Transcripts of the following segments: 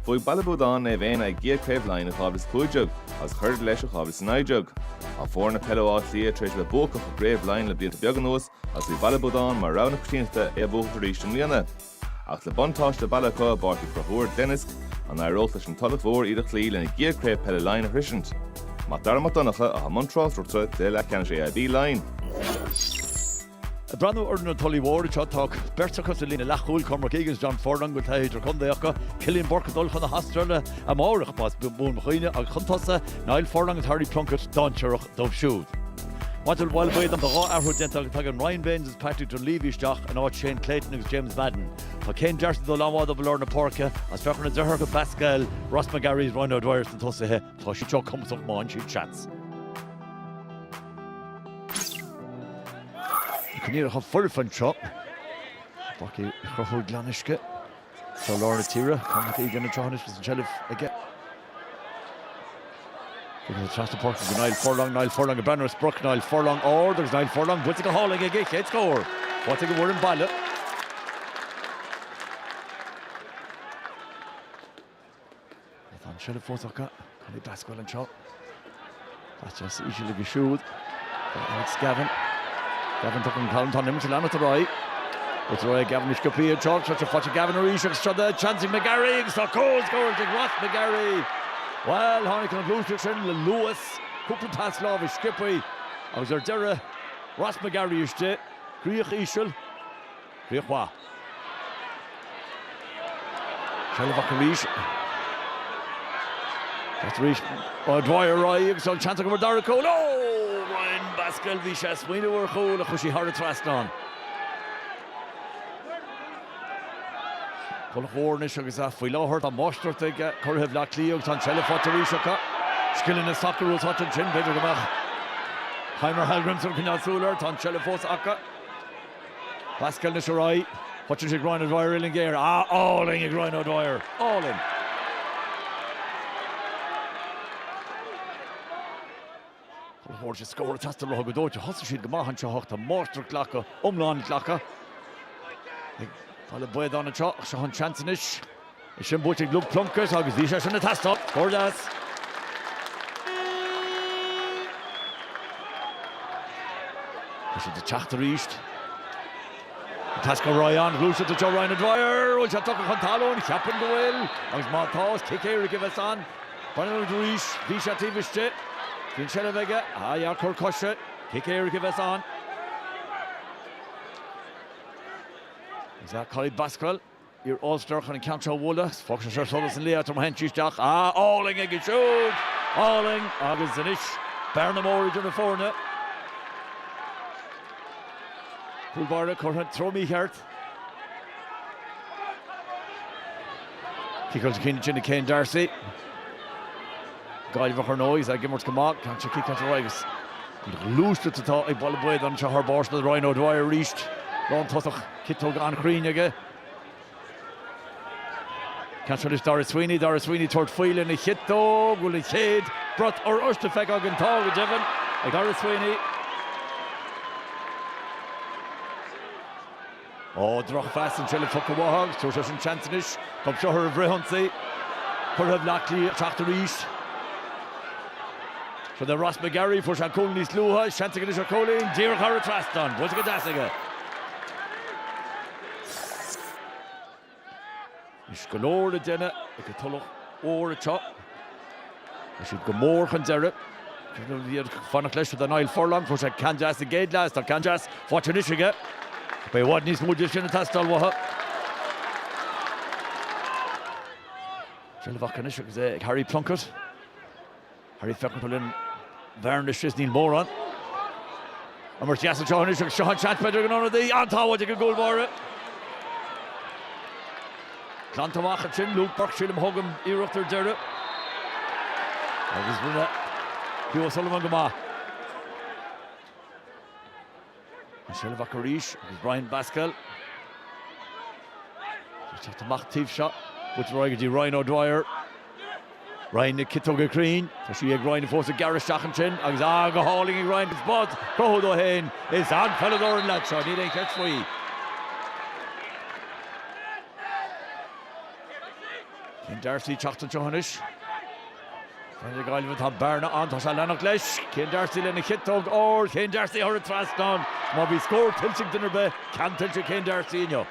Bhuaigh Baile Buadáin Naomh Éanna a gcéad Chraobh Laighean i 2015 agus chuir leis i 2019. Tá foirne peile Átha Cliath tar éis a bheith buacach i gCraobh Laighean le blianta beaga anuas agus bhí Baile Buadáin mar rogha na coitiantachta é a bhuachaint arís i mbliana. Ach le buntáiste baile acu i bPáirc Uí Chonchúir Glenisk, an éireodh leis an Tulach Mhór iad a chloí lena gcéad Chraobh Peile Laighean a shroisint? Mac Dara Mac Donncha, atá i mbun tráchtaireachta, cluiche leathcheannais AIB Laighean. Ag breathnú ar fhoireann an Tulaigh Mhóir anseo, tá beirt acu sa líne leathchúil, Cormac Egan, John Furlong, a bhfuil taithí idirchontae acu, Cillian Bourke ag dul chun na hAstráile amárach, más buan mo chuimhne, agus chun tosaigh, Niall Furlong agus Harry Plunkett, dainséarach dóibh siúd. Maidir le Baile Buadáin, tá dhá athrú déanta acu, tagann Ryan Baynes agus Patrick Dunleavy isteach in áit Shane Clayton agus James Madden. Tá Céin D'Arcy ag dul an-mhaith dóibh i lár na páirce, agus féach ar na deartháireacha Basquel, Ross McGarry agus Ryan O'Dwyer sna tosaithe, Tá siad seo cumhachtach má fhaigheann siad seans. Coinníollacha foirfe anseo. Páirc Uí Chonchúir Glenisk i gcroílár na tíre. Cormac Egan anseo anois agus an tseilbh aige. Tugann sé trasna páirce go Niall Furlong. Niall Furlong ag breathnú ar sprioc Niall Furlong ard agus Niall Furlong buailte go hálainn aige. Chéad scór. Faighte ag an bhfoireann baile. Tá an tseilbh fós acu. Collie Basquel anseo. Caite os íseal aige siúd. Alex Gavin. Gavin tugtha chun talún. Tá an imirt ag leanacht ar aghaidh. Is rud é Gavin go sciobtha anseo. Seilbh faighte ag Gavin arís agus seo seans ag McGarry agus tá comhscór ag Ross McGarry. Bhuel tháinig an ghluaiseacht sin le luas. Cúpla pas láimhe sciobtha agus ar deireadh Ross McGarry istigh. Críoch íseal. Críoch mhaith. Seilbh acu arís. Thart arís. O'Dwyer ar aghaidh agus an seans acu ar an dara cúl. Ó! Ryan Basquel, bhí sé ag smaoineamh ar chúl ach chuir sé thar an trasnán. Tulach Mhór anois agus faoi láthair tá máistreacht ag curaithe Bhleá Cliath agus tá an tseilbh faighte arís acu. Scileanna sacair úsáidte ansin. B'fhéidir go mbeadh Heimir Hallgrímsson ag coinneáil súil air. Tá an tseilbh fós acu. Basquel anois arís, caitheann sé ag Ryan O'Dwyer, uillinn ghéar álainn ag Ryan O'Dwyer, álainn. Tulach Mhór, is scór ag teastáil uathu go dóite, thosaigh siad go maith anseo ach tá máistreacht glactha, iomlán glactha, ag Baile Buadáin anseo ach seo an seans anois. Is sin buaite ag Luke Plunkett agus bhí sé sin ag teastáil. Scór deas. Tá siad ag teacht arís. Ag teastáil Roy an ghluaiseacht i dtreo Ryan O'Dwyer. Bhfuil sé tugtha chun talún? Cheapfainn go bhfuil. Agus má tá, is cic éirice a bheas ann. Breathnaíonn muid arís. Bhí sé taobh istigh. Bhí an tseilbh aige. Ah yeah, cor coise. Cic éirice a bheas ann. Is é Collie Basquel. Iar-All Star chun an ceann seo a bhualadh. Is fágtha seo solas an lae atá mar sheinnti isteach. Ah, álainn aige siúd! Álainn! Agus anois, bearna mór idir na foirne. Cúl báire curtha sa treo mícheart. Cic os a chinn sin ag Céin D'Arcy. Gaillimheach ar ndóigh, is ag imirt go maith. Ceann seo cic as a raghaidh agus an ghluaisteacht atá ag Baile Buadáin anseo thar barr sin é Ryan O'Dwyer arís. Lántosaí. Ciotóg an-chruinn aige. Ceann seo le Daire Sweeney. Daire Sweeney ag tabhairt faoi lena chiotóg, an bhfuil an chéad bhrat oráiste feicthe againn. Tá, go deimhin, ag Daire Sweeney. Ó, drochphas an tseilbh tugtha uathu agus tabhair seisean seans anois. Tá an fliuchar an bhfrithionsaí. Curaithe Bhleá Cliath ag teacht arís. Sin é Ross McGarry, fuair sé cúl níos luaithe, seans aige anois ar chúilín, díreach thar an trasnán, buailte go deas aige. Anois go leor le déanamh ag an Tulach Mhór anseo. Tá siad go mór chun deiridh. B'fhiú fanacht leis do Niall Furlong, fuair sé ceann deas sa gcéad leath is tá ceann deas faighte anois aige. Beidh i bhfad níos mó de sin ag teastáil uathu. Seilbh acu anois agus é ag Harry Plunkett. Harry ag féachaint cá bhfuil an bhearna is níl mórán imirt dheas anseo anois agus seo an seans b'fheidir ag an ionadaí an-sábháil ag an gcúl báire glanta amach ansin Luke Burke sílim a thug an iarracht ar deireadh agus rinne Hugh O'Sullivan go maith. An tseilbh acu arís agus Ryan Basquel ag teacht amach taobh seo. Buailte ar aghaidh go dtí Ryan O'Dwyer. Ryan na ciotóige cruinne. Tá sí ag Ryan fós ag gearradh isteach ansin agus ah go hálainn ag Ryan agus spás cruthaithe dó féin. Is an-pheileadóir an leaid seo, níl aon cheist faoi. Céin D'Arcy ag teacht anseo anois. Fear na Gaillimhe, tá bearna ann, tá sé ag leanacht leis. Céin D'Arcy lena chiotóg, ó, Céin D'Arcy thar an trasnán má bhí scór tuillte ag duine ar bith, ceann tuillte ag Céin D'Arcy inniu.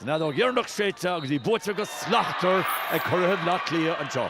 An fheadóg dheireanach séidte agus í buaite go slachtmhar ag curaithe Bhleá Cliath anseo.